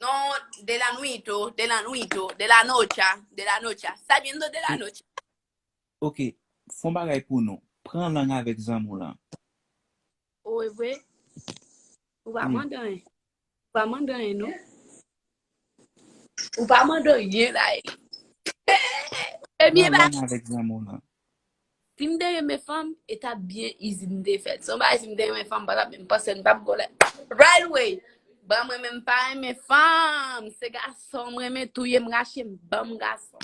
Non, de la nuit o, de la nuit o, de la noche a, de la noche a. Sa bien do de la noche. Ok, fon bagay pou nou. Pran lang avèk zanmi w lan. Ou e vre? Ou pa mandan en. Ou pa mandan en non. Ou pa mandan rien la e. Ebyen ba. Pran lang avèk zanmi w lan. Sim te renmen fanm e tap byen izi m te fèt son bagay sim te renmen fanm m patap menm panse m tap gole right away bon mwen menm m pa renmen fanm se gason m renmen touyem rachem banm gason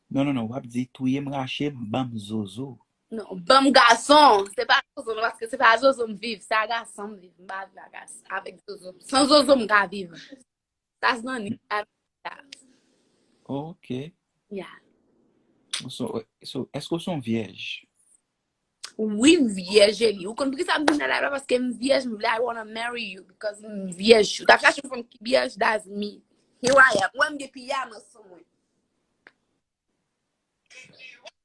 Non non non wap di touyem rachem banm zozo. non banm gason se pa zozo non paske se pa zozo m viv se a gason m viv m pa viv a gason avèk zozo san zozo m ka viv. Sa zanmi sa vle di la. Ok. Yeah. So, eske ou son vyèj? Oui, m vyèj Eli. Ou konn pou ki sa m vin nan live la paske m vyèj, m vle I wanna marry you because m vyèj. Ou ta chache yon fanm ki vyèj, that's me. Here I am. Ou wè m gen piyama sou mwen.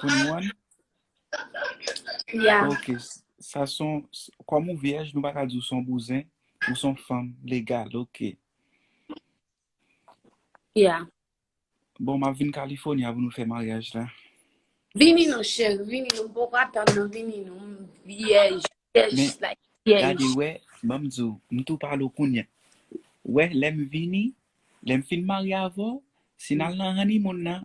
Pou nwan? Ya. Ok, sa son, kòm ou vyèj, nou pa ka di ou son bouzen, ou son fanm legal, ok. Ya. Bon, m ap vin California pou nou fè maryaj la. Vini non cheri, vini non, m poko ap tann non, vini non, m vyèj, vyèj Men, like vyèj. Gade wè, ban m di w, m tou pale w kounye a. Wè, lè m vini, lè m fin marye avè w, si n al nan honeymoon nan,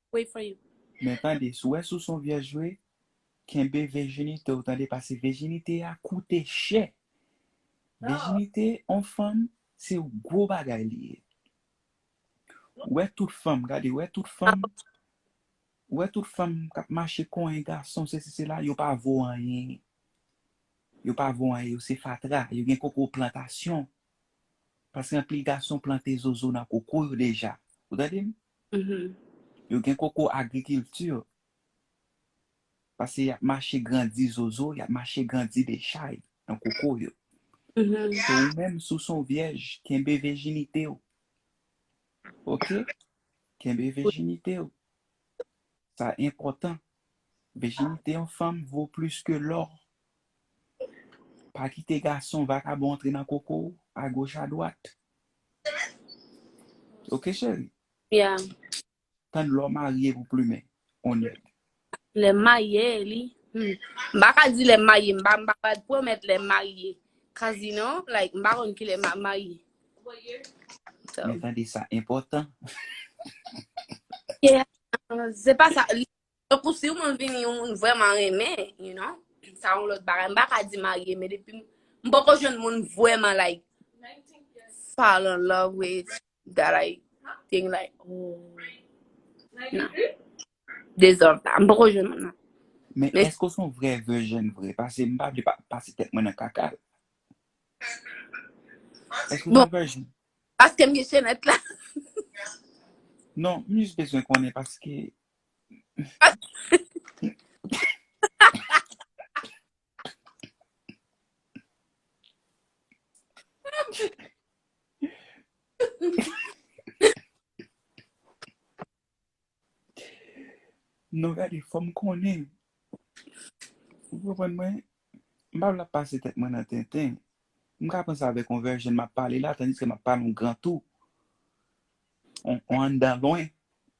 wait for you. Men tande sou wè sou son vyèj vre kenbe vejinite w tande pase vejinite a koute chè vejinite on fanm se yon gwo bagay li ye wè tout fanm gade wè tout fanm wè tout fanm kap mache konyen gason sesi sela yo pa vo anyen yo pa vo anyen yo se fatra yo gen koko plantasyon paske anpil gason plante zozo nan koko yo deja ou tande m Yo gen koko agrikilti. Pase y ap mache grandi zozo, y ap mache grandi dechay nan koko yo. Se ou menm si w son vyèj, kenbe vejinite w. Ok? Kenbe vejinite w. Sa enpòtan. Vejinite yon fanm vo plis ke lò. Pa kite gason vakabon antre nan koko w, agoch adwat. Ok cheri. Yeah. Tann lè w marye pou plumen on nèg. Lè m marye li. Hmm. M pa ka di lè m marye. M pa m pa ka pwomèt lè m marye. Cause you know, like m pa konn ki lè m ap marye. So. Men tande sa enpòtan. Yeah. Se pa sa. Tankou si yon moun vini yon moun vrèman renmen, you know, sa yon lòt bagay. M pa ka di marye, men depi m, m poko jwenn moun vrèman like fall in love with that I think like ooh nan. Deserve that. M poko jwenn moun nan. Men Men- èske w son vrè virgin vre? Pase m pa vle pa pase tèt mwen nan kaka. Èske w Bon. son virgin? Paske m gen chenèt la. Non, m jis bezwen konnen paske Non gade fòm konnen Ou konprann mwen M pa vle ap pase tèt mwen nan tenten M ka panse avèk yon vèjen m ap pale la tandiske m ap pale yon gran tou Yon anndan lwen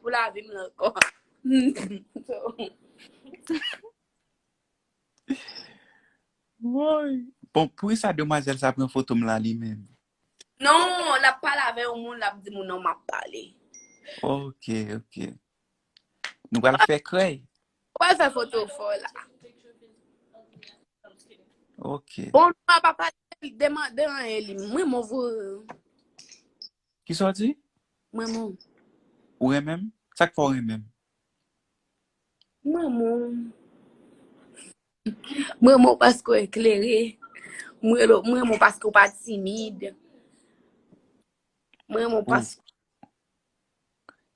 Pou la vim lan kò. Woy. Bon, pou sa demwazèl sa pran foto m la li menm? Non, la pa la vè yon moun la di moun nan ma pale. Ok, ok. Nou wè la fè krey? Ou wè la fè foto fò la. Ok. Bon, nou pa pale, deman, deman e li. Mwen mou vou. Kisa w di? M renmen w. Ou renmen m? Sa k fè w renmen m? M renmen w. M renmen w paske w eklere. M renmen w paske w pa timid. M renmen w paske.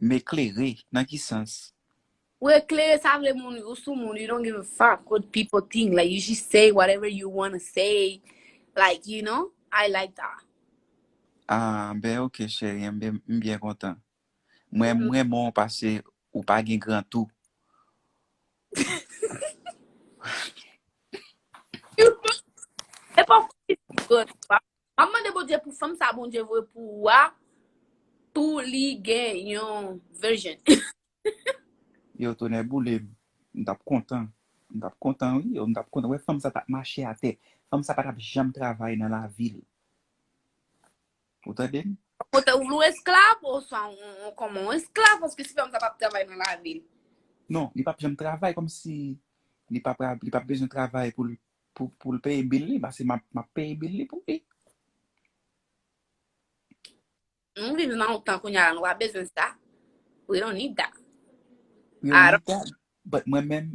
M eklere? Nan ki sans? Ou eklere sa vle moun ou sou moun you don't give a fuck what people think like you just say whatever you wanna say like you know I like that. Ah ben ok cherie m byen kontan mwen m renmen w pase ou pa gen gran tou. E pa fwa li gen gran tou pa. Map mande Bondye pou fanm sa Bondye voye pou ou a pou li gen yon virgin. Yow tonè boulem m tap kontan m tap kontan wi yow m tap kontan wè fanm sa tap mache atè fanm sa patap janm travay nan lavil ou tandem. Kote ou vle w esklav oswa ou kòman ou esklav paske si fanm sa pap travay nan lavil. Non li pap janm travay kòmsi li pa pra li pap bezwen travay poul poul peye bil li pase map map peye bil li pou li. Nou viv nan yon tan kounye a nou pa bezwen sa. We don't need that. We don't need that. But mwen men,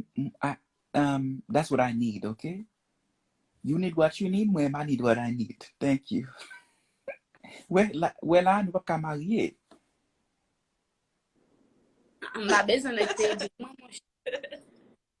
um, that's what I need, ok? You need what you need, mwen I need what I need. Thank you. We la, we la, nou pa ka marye. Mwen pa bezwen nèg te ede mwen, mwen.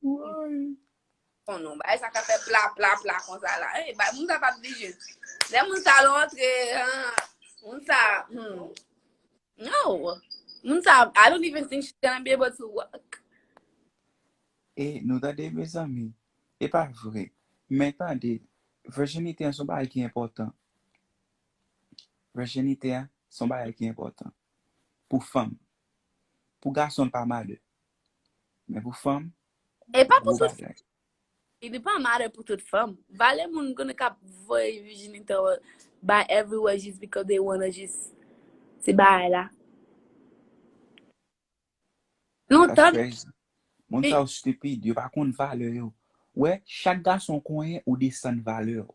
Woy. Bon nou bay sa ka fè pla pla pla konsa la. Hey, bay moun sa pa di jis. Lè moun sa lontre, moun sa, hmm. No. Moun sa, I don't even think she's gonna be able to walk. E, nou tande mezanmi. E pa vre. Men tande, vèjinite an son bagay ki enpòtan. Vèjinite an son bagay ki enpòtan. Pou fanm. Pou gason l pa malè. Men pou fanm, E pa pou gwo tout fanm. bagay. E li pa matter pou tout fanm. Valè moun konnen kap voye vijinite yo bay everywhere just because they wanna just ti bagay la. Nou That's tande crazy. Moun Li- sa yo stupid, yo pa konn valè yo. Wè, chak gason konyen ou desann valè ou.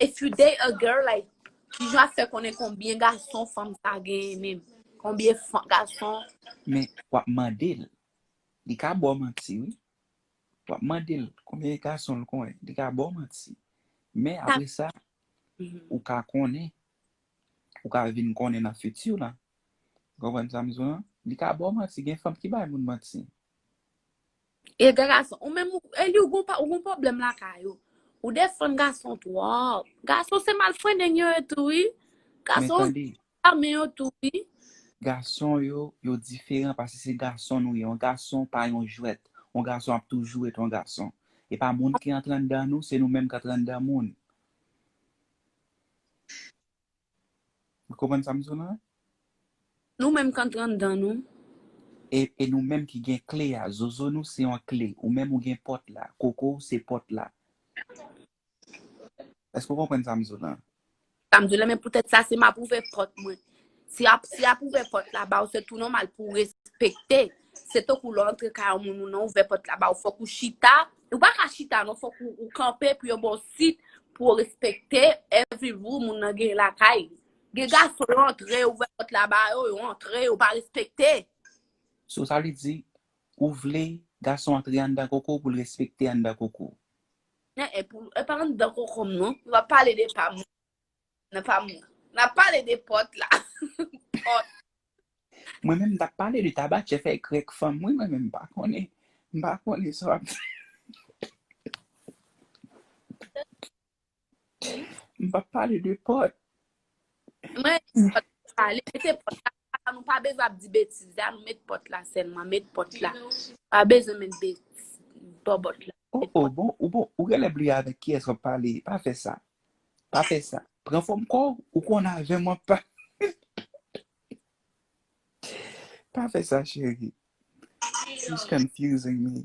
If you date a girl like kijan ap fè konnen konbyen gason fanm sa genyen menm? Konbyen gason Men wap mandel. Li ka baw manti wi. Wap mandel konbyen gason l konnen. Li ka baw manti. Men apre sa ou ka konnen. Ou ka vin konnen nan futur lan. Ou konprann sa m di w lan? Li ka baw manti. Gen fanm ki bay moun manti. E gen gason, ou menm, Eli ou gen pwoblèm lakay ou. Ou defann gason twòp. Gason se malfrendeng yo ye tou wi. Gason yo se zame yo tou wi. Men tande, gason yo, yo diferan paske se gason nou ye. Yon gason pa yon jwèt. Yon gason ap toujou ret yon gason. E pa moun ki antre anndan nou, se nou menm k antre anndan moun. Nou konprann sa m di w la? Nou menm k antre anndan nou. E, e nou menm ki gen kle a. Zozo nou se yon kle. Ou menm ou gen pòt la. Koko w se pòt la. Èske w konprann sa m di w la? Sa m di w la, men poutèt sa, si m ap ouvè pòt mwen. Si ap, si ap ouvè pòt la ba w, se tou nòmal pou w respekte. Se tankou lè w antre kay yon moun, ou nan ouvè pòt la ba w, fòk ou chita Ou pa ka chita non fok ou kanpe pou yo baw sit pou ou respekte every rule moun nan gen lakay li. Gen gason yo antre ouvè pot la ba yo, yo antre yo pa respekte. So sa vle di ou vle gason antre anndan koko w pou l respekte anndan koko w. Epa anndan kokom non, mwen ap pale de pam. Nan pa m nan. N ap pale de pòt la. Pòt. Mwen menm m tap pale de tabachè fèy krèk fanm wi mwen menm m pa konnen m pa konnen sa w ap di m pap pale de pòt. Mwen pòt pale mete pòt la Papa nou pa bezwen ap di betiz la nou met pot la selman met pot la pa bezwen met betiz bobot la. Oh oh bon ou bon ou genlè bliye avèk kiyès wap pale pa fè sa pa fè sa pran fòm kòw ou konn avèm wap pa pa fè sa cheri she's confusing me.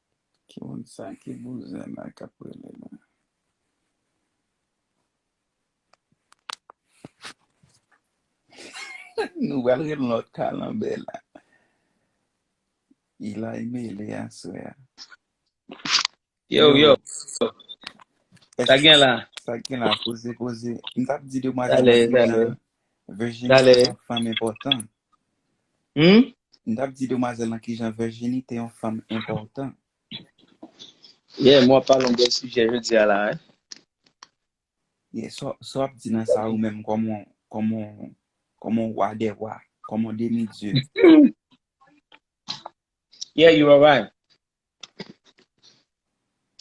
Ki moun sa ki bouzen la kap rele la. Nou pral gen lòt kalanbè la. Ilay mele aswè a. Yo yo. Sa gen la. Sa gen la poze poze. M tap di demwazèl nan Virginia. Virginia se yon fanm enpòtan. Humm. M tap di demwazèl lan kijan Virginie te yon fanm enpòtan. Yeah, mwen ap pale yon bèl sijè jodi a la hein. Yeah, sa w ap di nan sa ou menm kòm yon wa dè wa, kòm yon demi dye. Yeah, you are right.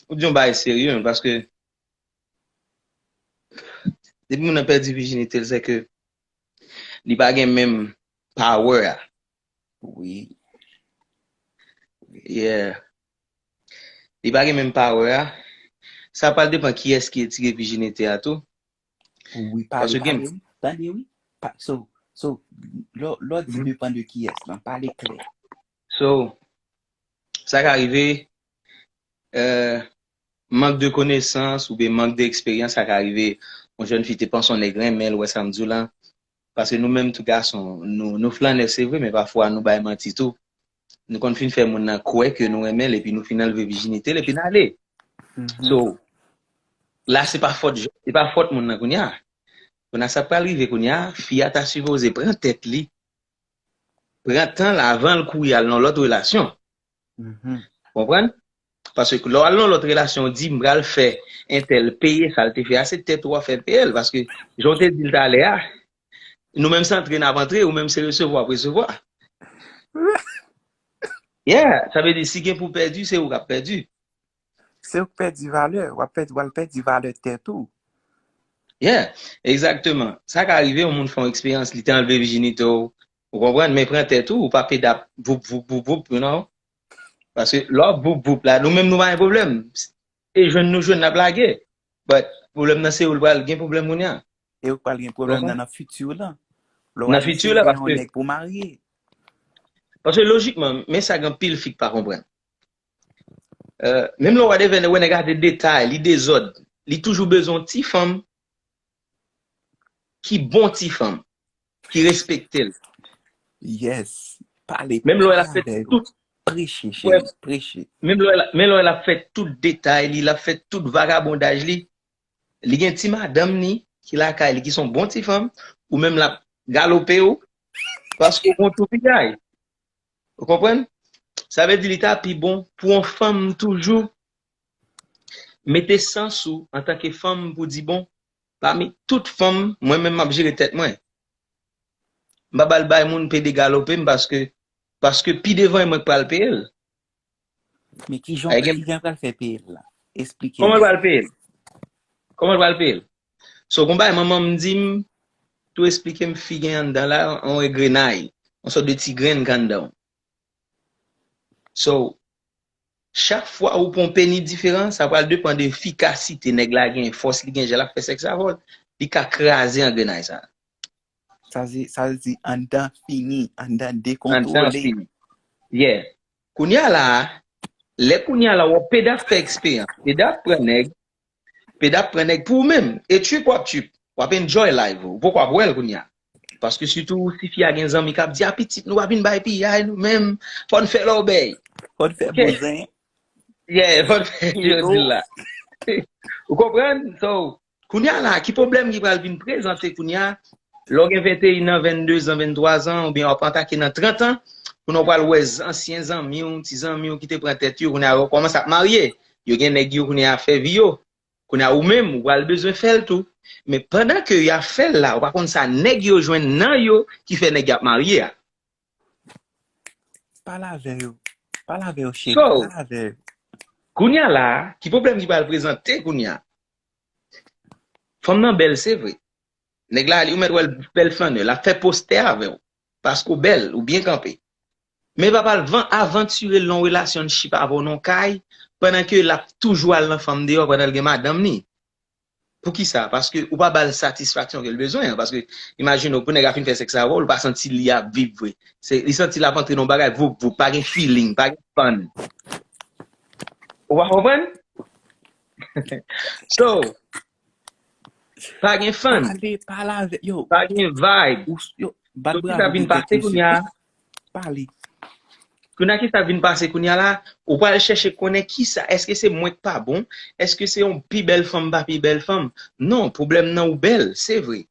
Ou di yon bagay serye men paske depi moun nan pèdi vijinite l sè ke Li pa gen menm power a. Wi. Yeah. Li pa gen menm power a. Sa pral depan kiyès ki etire vijinite a tou. Wi pale, Paske gen. pale wi. Tande wi. Pa, so, so, lè w, lè w di depan de kiyès lan, pale klè. So, sa ka rive, eh. Mank de konesans oubyen mank de eksperyans sa ka rive yon jèn fi te panse yon nèg renmen l wè sa m di w la paske nou menm tou gason nou nou flannè se vre men pafwa nou bay manti tou nou konn fin fè moun nan kwè ke nou renmen l epi nou fin anlve vijinite l epi n ale so la se pa fòt jèn se pa fòt moun nan kounya kounya sa k pral rive kounya fi a ta sipoze pran tèt li pran tan l avan l kouri al nan lòt relasyon. Konprann? Paske lè w al nan lòt relasyon, w di m pral fè entèl peye sa l te fè a, se tèt ou w ap fè peye l. Paske jan w te di l talè a, nou menm se antre n ap antre, ou menm se resevwa w ap resevwa. Yeah! Sa vle di si gen pou pèdi, se ou k ap pèdi. Se ou k pèdi valè, w ap pèdi, w al pèdi valè tèt ou. Yeah, exactement. Sa ka rive yon moun fè yon eksperyans, li te anlve vijinite w, ou konprann, men pran tèt ou, ou pa peda voup voup voup voup, you know. Paske lè w ap voup voup la, nou menm nou pa gen pwoblèm. E jwenn nou jwenn, n ap lage. But, pwoblèm nan se ou l pral gen pwoblèm kounya. E ou k pral gen pwoblèm nan nan fiti w lan. Lè w al eseye gen yon nèg pou w marye. Paske lojikman, men sa gen anpil fi k pa konprann. Menm lè w gade vènè wè nèg la de detay li dezòd li toujou bezwen yon ti fanm ki bon ti fanm ki respekte l yes pale menm lè w ap fè tout preche cheri preche menm lè w ap fè tout detay li lap fè tout vagabondaj li li gen ti madanm ni ki lakay li ki son bon ti fanm ou menm lap galope w paske w gon toupikay. Ou konprann? Sa vle di li ta pi bon pou yon fanm toujou mete sans ou antanke fanm pou di bon, pami tout fanm, mwen menm m ap jere tèt mwen. M pa ba l bay moun pede galope m paske paske pi devan e mwen k pral peye l. Men ki jan ki jan pral fè peye l la? Esplike nou. Kòman l pral peye l? Kòman l pral peye l? So gon bagay manman m di m tou esplike m fi gen anndan la yon engrenay, yon sòt de ti grenn k anndan w. So chak fwa ou pran yon peni diferan sa pral depan de efikasite nèg la gen, fòs li gen jan l ap fè sèks avè w, li ka kraze angrenay sa. Sa vle di anndan fini, anndan dekontwole. Anndan fini. Yeah. Kounya la a, lè kounya la wè Peda fè eksperyans, Peda ap pran nèg, Peda ap pran nèg pou ou menm, e trip wap trip, wap enjoy live ou, ou poko ap wèl kounya. Paske sitou si fi a gen zanmi kap di a pitit nou pa vin bay piyay nou menm, fòn fè lòbèy. Fòn fè bouzen. Yeah, fòn fè, yo dil la. Ou konprann? So, Kounya la, ki pwoblèm ki pral vin prezante kounya, lè w gen 21 an, 22 zan, 23 zan, oubyen wap atake nan 30 an, kounya w pral wè ansyen zanmi w, ti zanmi w ki te pran tèt yo, kounya yo kòmanse ap marye, yo gen nèg yo kounya ap fè vi yo. Kounya ou menm, ou pral bezwen fè l tou. Men pandan ke yap fè l la, ou pa konn sa nèg yo jwenn nan yo ki fè nèg yap marye a. Pale avè yo. Pale avè yo cheri. So. Pale avè yo. Kounya la, ki pwoblèm ki pral prezante kounya? Fanm nan bèl se vre. Nèg la, ou mèt wè l bèl flannè. L ap fè postè avè w. Paske w bèl, ou byen kanpe. Men l pa pral van avantire l nan yon relasyonnship avè w nan yon kay pandan ke l ap toujou al nan fanm deyò pandan l gen madanm li. Poukisa? Paske ou pa bal satisfaksyon kel bezwen an. Paske imajine w pou nèg la fin fè sèks avè w, li pa santi li ap viv vre. Se li santi lap antre nan yon bagay voup voup, pa gen feeling, pa gen fun. Ou pa konprann? So, pa gen fun. Pale, pale avè, yo. Pa gen vibe. Yo, bat bravo pou tèt misye. Sa ki ta vin pase kounya, pale. Kounye kisa vin pase kounye la, ou pral chèche konnen kisa, eske se mwen k pa bon, eske se yon pi bèl fanm m pa pi bèl fanm, non pwoblèm nan ou bèl se vre,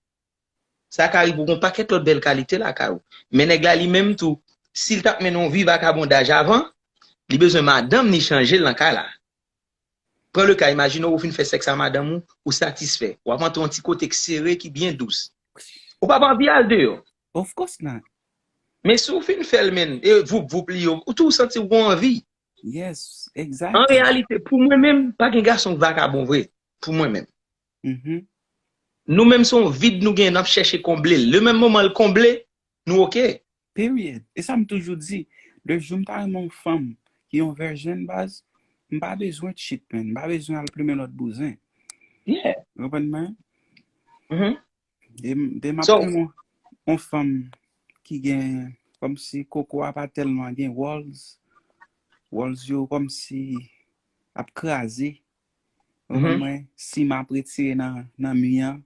sa ka rive ou gen yon pakèt lòt bèl kalite lakay ou, men nèg la li menm tou si l t ap mennen yon vi vakabondaj avan, li bezwen madanm li chanje l nan kay la, Pran le ka, imajine w ou fin fè sèks a madanm ou, ou satisfè. W ap antre yon ti kote k sere, ki byen dous. Ou p ap anvi al deyò. Of course not. Men si w fin fè l menn, e voup voup li yo, ou tou santi w gen yon anvi. Yes, exactly. An reyalite, pou mwen menm, pa gen gason k vakabon vre. Pou mwen menm. Mm-hmm. Nou menm se yon vid nou gen, n ap chèche konble l. Le menm moman l konble, nou ok. Period! E sa m toujou di, le jou m ta renmen yon fanm ki yon vèjèn baz, m pa bezwen tchit menn, m pa bezwen al plumen lòt bouzen. Yeah! Ou konprann mwen? Mh. Dema ap renmen yon yon fanm ki gen kòmsi koko a pa tèlman gen wòls, wòls yo kòmsi ap kraze, ou konprann mwen, si m ap retire nan nan mi an,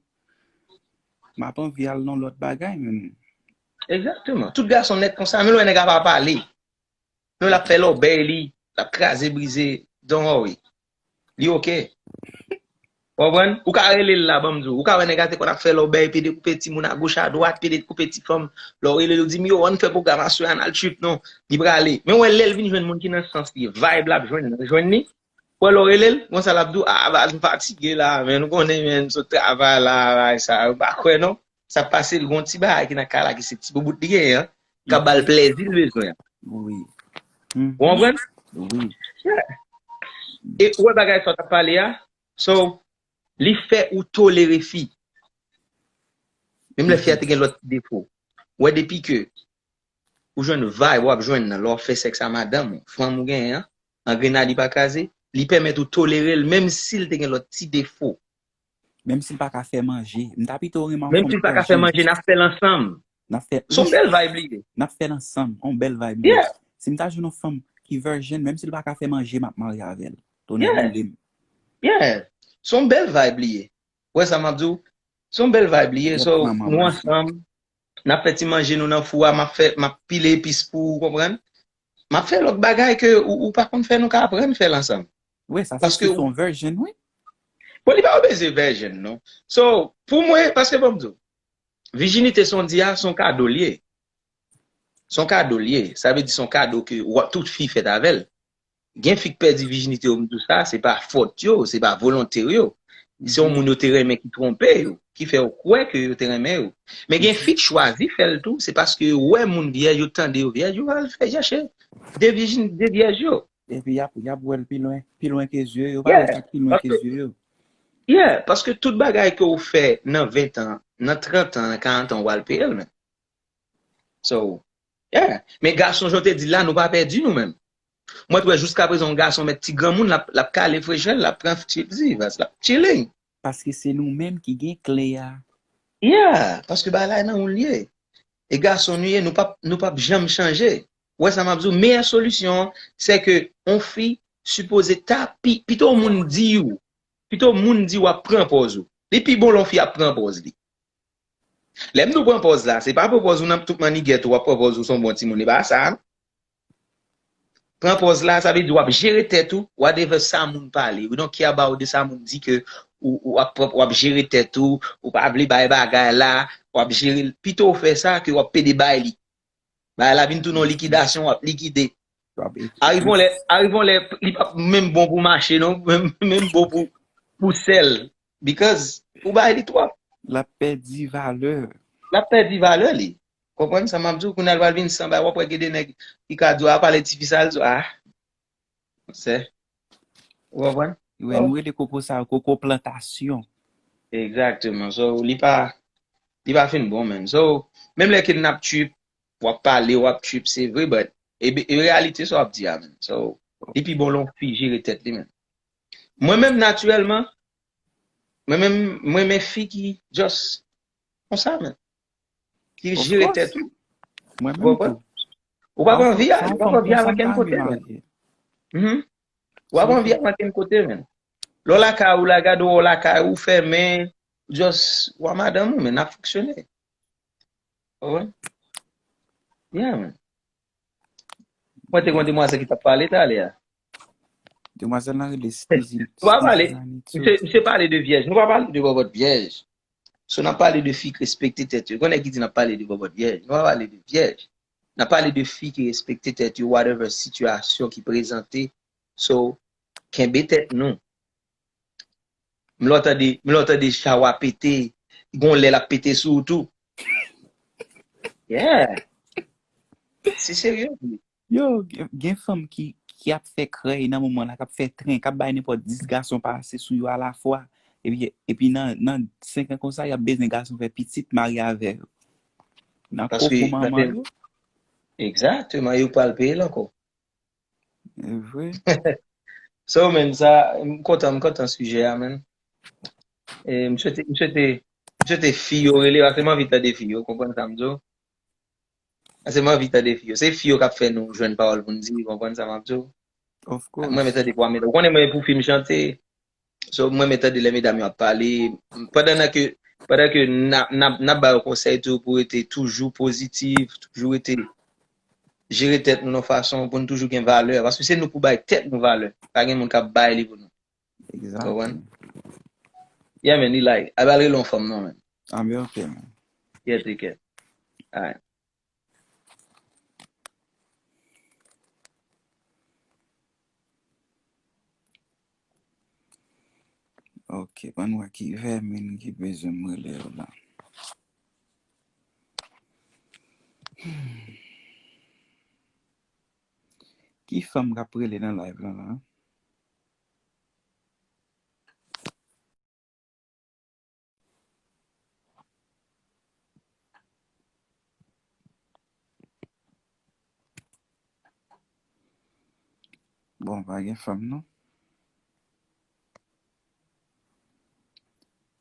m ap anvi al nan lòt bagay menm. Exactement. Tout gason nèt konsa. Menm lè nèg la pa pale. Menm lè ap fè lòbèy li. L ap kraze brize. Don't worry. Li ok. Ou konprann? Ou ka rele l la banm di w. Ou ka wè nèg la te konn ap fè lòbèy, pede koupe timoun a goch a dwat, pede koupe ti fanm. Lè w rele l ou di m yo ann fè pwogram aswè a, ann al trip non. Li prale. Men w wè lè l vin jwenn moun ki nan sans li, vibe l ap jwenn nan jwenn li. Ou wè lè w rele l, konsa l ap di w, ah baz m fatige la a menn. Ou konnen menn m sot travay la a, bagay sa yo. M pa kwè non. Sak pase l gon ti bagay ki nan kay la ki se ti boubout li genyen an kap bal plèzi l bezwen an. Wi. Ou konprann? Wi. E ou wè bagay sa w tap pale a? So, li fè ou tolere fi. Menm lè fi a te gen lòt ti defo. Ou wè depi ke ou jwenn vibe wap jwenn nan lè wap fè sèks a madanm ou, fanm ou genyen an, angrena li pa kraze, li pèmèt ou tolere l menm si l te gen lòt ti defo. Menm si l pa ka fè manje. M ta pito renmen anfòm Menm si l pa ka fè manje, n ap fè l ansanm. N ap fè l. S on bèl vibe li ye. N ap fè l ansanm. On bèl vibe li ye. Yeah. Si m ta jwenn on fanm ki virgin, menm si l pa ka fè manje, m ap marye avè l. Tonnè Yeah. boule m. Yeah. S on bèl vibe li ye. Ou wè sa m ap di w? S on bèl vibe li ye. Yap So, pran manman nou m. ansanm. Nap fè ti manje nou nan fou a, map fè, map pile epis pou ou, konprann? Map fè lòt bagay ke ou pa konn fè nou ka aprann fèl ansanm. Wi sa se Paske sou ou son version wi. Bon li pa obeze version non. So pou mwen, paske banm di w, vijinite sa w di a, son kado l ye. Son kado l ye. Sa vle di son kado ke tout fi fèt avè l. Gen fi k pèdi vijinite yo m di w sa, se pa fòt yo, se pa volonte yo. Se yon moun yo te renmen ki twonpe yo, ki fè yo kwè ke yo te renmen yo. Men gen fi k chwazi fè l tou, se paske yo wè moun vyèj, yo tande yo vyèj, yo al fè chèche de vijin, de vyèj yo. Epi y ap, y ap wè l pi lwen, pi lwen ke zye yo, pa wè sa k pi lwen ke zye yo. Yeah, paske tout bagay ke ou fè nan ventan, nan trantan, nan karantan ou al peye l men. So, yeah. Men gason jan w te di l la, nou pa pèdi nou menm. Mwen t wè jiskaprezan yon gason mèt ti granmoun l ap l ap kale frechè l, l ap pran pti vaz, l ap chilling. Paske se nou menm ki gen kle a. Yeah, paske bagay la nan ou l ye. E gason nou ye, nou p ap nou p ap janm chanje. Ou wè sa m ap di w? Meyè solisyon an, se ke yon fi sipoze ta pi, pito yon moun di w, pito yon moun di w ap pran pòz ou. Li pi bon lè yon fi ap pran pòz li. Lè m di w pran pòz la, se pa pran pòz ou nan tout mannigèt ou, w ap pran pòz ou s on bon timoun. E pa sa a non. Pran pòz la, sa vle di w ap jere tèt ou, whatever sa moun pale, we don't care about de sa moun di ke ou ap pran, w ap jere tèt ou, ou pa vle bay bagay la, w ap jere l. Pito w fè sa ke w ap pede bay li. Bagay la vin tounen yon likidasyon wap likide. Ariv yon lè, ariv yon lè li pap menm bon pou mache non, menm bon pou pou sèl because ou bay li twòp. Lap pèdi valè. Lap pèdi valè li. Konprann sa map di w? Kounya li pral vin san bagay wap wè gen de nèg ki ka di w a pale tifi sa l di w a. Fransè. Ou konprann? Wi, nou rele koko sa yo koko plantasyon. Exactement. So, li pa, li pa fin bon menm. So, menm lè ke nap trip, wap pale, wap trip, se vre, but, e reyalite sa wap di a menm. So, li pi bon lè yon fi jere tèt li menm. Mwen menm naturellement, mwen menm, mwen renmen fi ki just konsa menm. Ki jere tèt ou. Mwen menm tou. Ou pa pran vi a, ou pa pran vi a nan ken kote men. Ou pa pran vi a nan ken kote men. Lè w lakay ou la gade ou lakay ou fèmen, just ou a madanm ou men nap fonksyone. Ou wè? Yeah men. Mwen te kon demwazèl ki tap pale talè a. Demwazèl lan rele Stizine Too. Nou pa pale, misye pale de vyèj, nou pa pale de bòbòt vyèj. So nap pale de fi ki respekte tèt yo. Gen yon nèg ki di nap pale de bòbòt vyèj. Nou pa pale de vyèj. Nap pale de fi ki respekte tèt yo whatever sitiyasyon ki prezante. So, kenbe tèt nou. M lè w tande, m lè w tande chawa pete, gon lè lap pete sou ou tou. Yeah! Se serye vre. Yo, gen fanm ki ki ap fè krèy nan moman la, kap fè tren, kap bay nenpòt 10 gason pase sou yo alafwa. Epi epi nan nan 5 an konsa yap bezwen gason fè pitit marye avè yo. Nan Paske koko manman yo. Exactement, yo pral peye l ankò. Evre. So men sa, m kontan, m kontan sijè a men. E m swete, m swete, m swete fi yo rele, ase m anvi tande fi yo, konprann sa m di w. Ase m anvi tande fi yo. Se fi yo k ap fè nou jwenn pawòl pou n di, konprann sa m ap di w. Of course. Mwen renmen tande pou Amel. Ou konnen mwen pou fi m chante. So m renmen tande lè medam yo ap pale pandan nan ke pandan ke nap ba yo konsèy tou pou rete toujou pozitif, toujou rete jere tèt nou yon fason pou nou toujou gen valè paske se nou pou bay tèt nou valè pa gen moun kap bay li pou nou. Konprann? Yeah man li like. Abal rele yon fanm non man. Américaine. Yeah take care. Alright. Ok bann wè ki vèmin ki bezwen m rele yo la. Ki fanm kap rele nan live lan la. Bon pa gen fanm non.